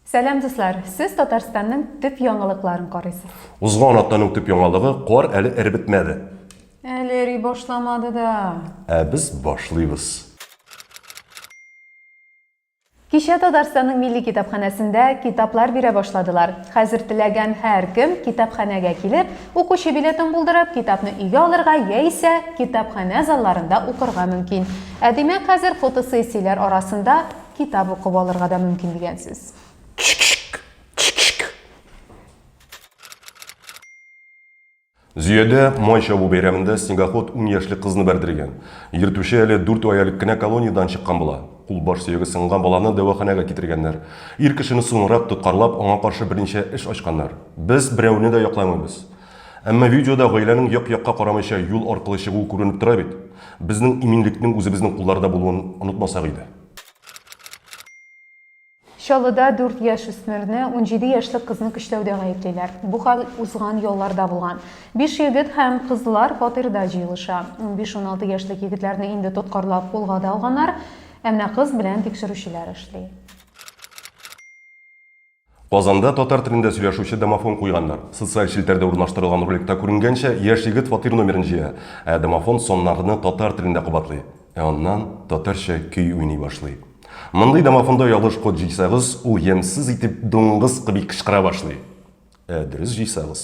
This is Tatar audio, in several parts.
Сәлам дуслар! Сез Татарстанның төп яңалыкларын карыйсыз. Узган атнаның төп яңалыгы кар әле эреп бетмәде. Әле эри башламады да. Ә без башлыйбыз. Кичә Татарстанның милли китапханәсендә китаплар бирә башладылар. Хәзер теләгән һәркем китапханәгә килеп, Укучы билетын булдырып, китапны өйгә алырга яисә китапханә залларында укырга мөмкин. Ә димәк, хәзер фотосессияләр арасында китап укып алырга да мөмкин дигән сүз. Зөядә май чабу бәйрәмендә снегоход ун яшьлек кызны бәрдергән. Йөртүче әле дүрт ай элек кенә колониядән чыккан була. Кулбаш сөяге сынган баланы дәваханәгә китергәннәр. Ир кешене соңрак тоткарлап, аңа каршы берничә эш ачканнар. Без берәүне дә якламыйбыз. Әмма видеода гаиләнең як-якка карамыйча юл аркылы чыгуы күренеп тора бит. Безнең иминлекнең үзебезнең кулларда булуын онытмасак иде. Чаллыда дүрт яшүсмерне, унҗиде яшьлек кызны көчләүдә гаеплиләр. Бу хәл узган ялларда булган. Биш егет һәм кызлар фатирда җыелыша. Унбиш-уналты яшьлек егетләрне инде тоткарлап кулга да алганнар. Ә менә кыз белән тикшерүчеләр эшли. Казанда татар телендә сөйләшүче домофон куйганнар. Социаль челтәрдә урнаштырылган роликта күренгәнчә, яшь егет фатир номерын җыя, ә домофон саннарны татар телендә кабатлый. Ә аннан татарча көй уйный башлый. Мондый домофонда ялгыш код җыйсагыз, ул ямьсез итеп дуңгыз кеби кычкыра башлый. Ә дөрес җыйсагыз,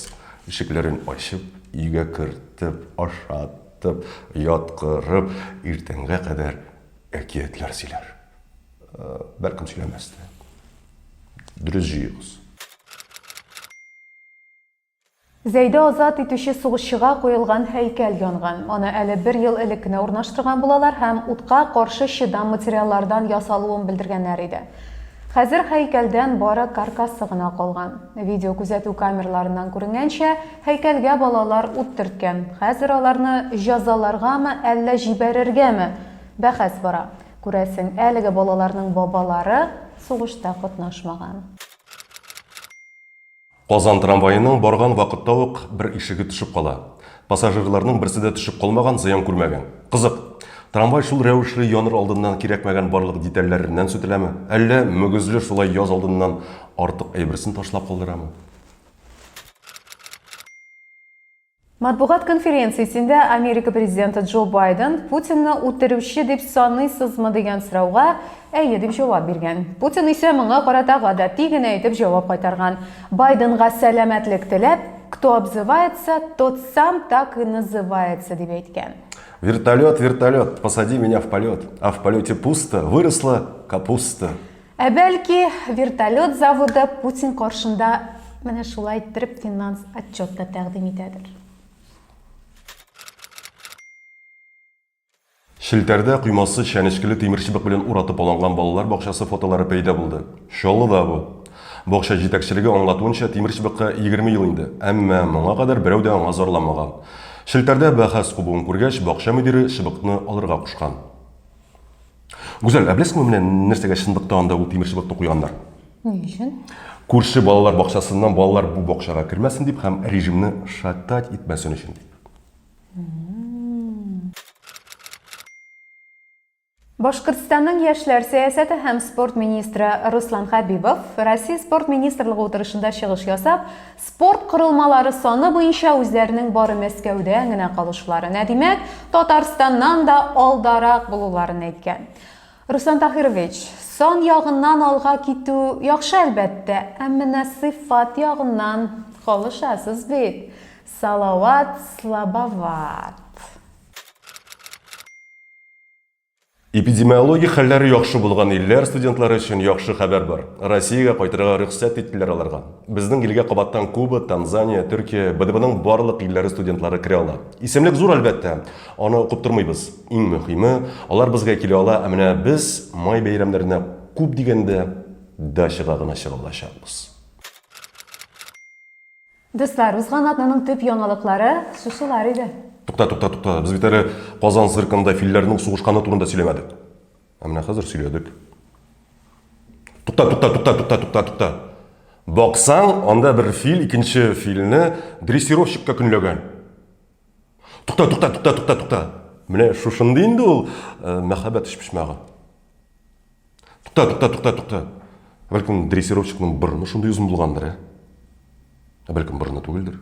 ишекләрен ачып, өйгә кертеп, ашатып, яткырып, иртәнгә кадәр әкиятләр сөйләр. Э, бәлкем сөйләмәс тә. Дөрес җыегыз. Зәйдә азат итүче сугышчыга куелган һәйкәл янган. Аны әле бер ел элек кенә урнаштырган булалар һәм утка каршы чыдам материаллардан ясалуын белдергәннәр иде. Хәзер һәйкәлдән бары каркасы гына калган. Видеокүзәтү камераларыннан күренгәнчә, һәйкәлгә балалар ут төрткән. Хәзер аларны җәзаларгамы, әллә җибәрергәме, бәхәс бара. Күрәсең, әлеге балаларның бабалары сугышта катнашмаган. Казан трамваеның барган вакытта ук бер ишеге төшеп кала. Пассажирларның берсе дә төшеп калмаган, зыян күрмәгән. Кызык, трамвай шул рәвешле яныр алдыннан кирәкмәгән барлык детальләреннән сүтеләме, әллә мөгезле шулай яз алдыннан артык әйберсен ташлап калдырамы? Матбугат конференциясендә Америка президенты Джо Байден Путинны үтерүче дип саныйсызмы дигән сорауга әйе дип җавап биргән. Путин исә моңа карата гадәти генә итеп җавап кайтарган. Байденга сәламәтлек теләп, Кто обзывается, тот сам так и называется дип әйткән. Вертолет, вертолет, посади меня в полет, а в полете пусто, выросла капуста. Ә бәлки, вертолет заводы Путин каршында менә шулай иттереп финанс отчет та тәкъдим итәдер. Челтәрдә коймасы чәнечкеле тимер чыбык белән уратып алынган балалар бакчасы фотолары пәйда булды. Чаллыда бу. Бакча җитәкчелеге аңлатуынча, тимер чыбыкка 20 ел инде, әмма моңа кадәр берәү дә аңа зарламаган. Челтәрдә бәхәс кубуын күргәч, бакча мөдире чыбыкны алырга кушкан. Гүзәл, ә беләсеңме менә нәрсәгә чынлыкта анда ул тимер чыбыкны куйганнар? Ни өчен? Күрше балалар бакчасыннан балалар бу бакчага кермәсен дип һәм режимны шатать итмәсен өчен дип. Башкортстанның яшьләр сәясәте һәм спорт министры Руслан Хәбибов Россия спорт министрлыгы утырышында чыгыш ясап, Спорт корылмалары саны буенча үзләренең бары Мәскәүдән генә калучыларын, ә димәк, Татарстаннан да алдарак булуларын әйткән. Руслан Таһирович, сан ягыннан алга китү яхшы, әлбәттә, ә менә сыйфат ягыннан калышасыз бит. Салават слабоват. Эпидемиологик хәлләре яхшы булган илләр студентлары өчен яхшы хәбәр бар. Россиягә кайтырга рөхсәт иттеләр аларга. Безнең илгә кабаттан Куба, Танзания, Төркия, БДБның барлык илләре студентлары керә ала. Исемлек зур, әлбәттә. Аны укып тормыйбыз. Иң мөһиме, алар безгә килә ала, ә менә без май бәйрәмнәренә күп дигәндә дачага гына чыга алачакбыз. Дуслар, узган атнаның төп яңалыклары шушылар иде. Тукта, тукта, тукта. Без бит әле Казан циркында филләрнең сугышканы турында сөйләмәдек. Ә менә хәзер сөйләдек. Тукта, тукта, тукта, тукта, тукта, тукта. Баксаң, анда бер фил икенче филне дрессировщикка көнләгән. Тукта, тукта, тукта, тукта, тукта. Менә шушындый инде ул мәхәббәт эчпочмагы. Тукта, тукта, тукта, тукта. Бәлкем дрессировщикның борыны шундый озын булгандыр, ә? Ә бәлкем борыны түгелдер?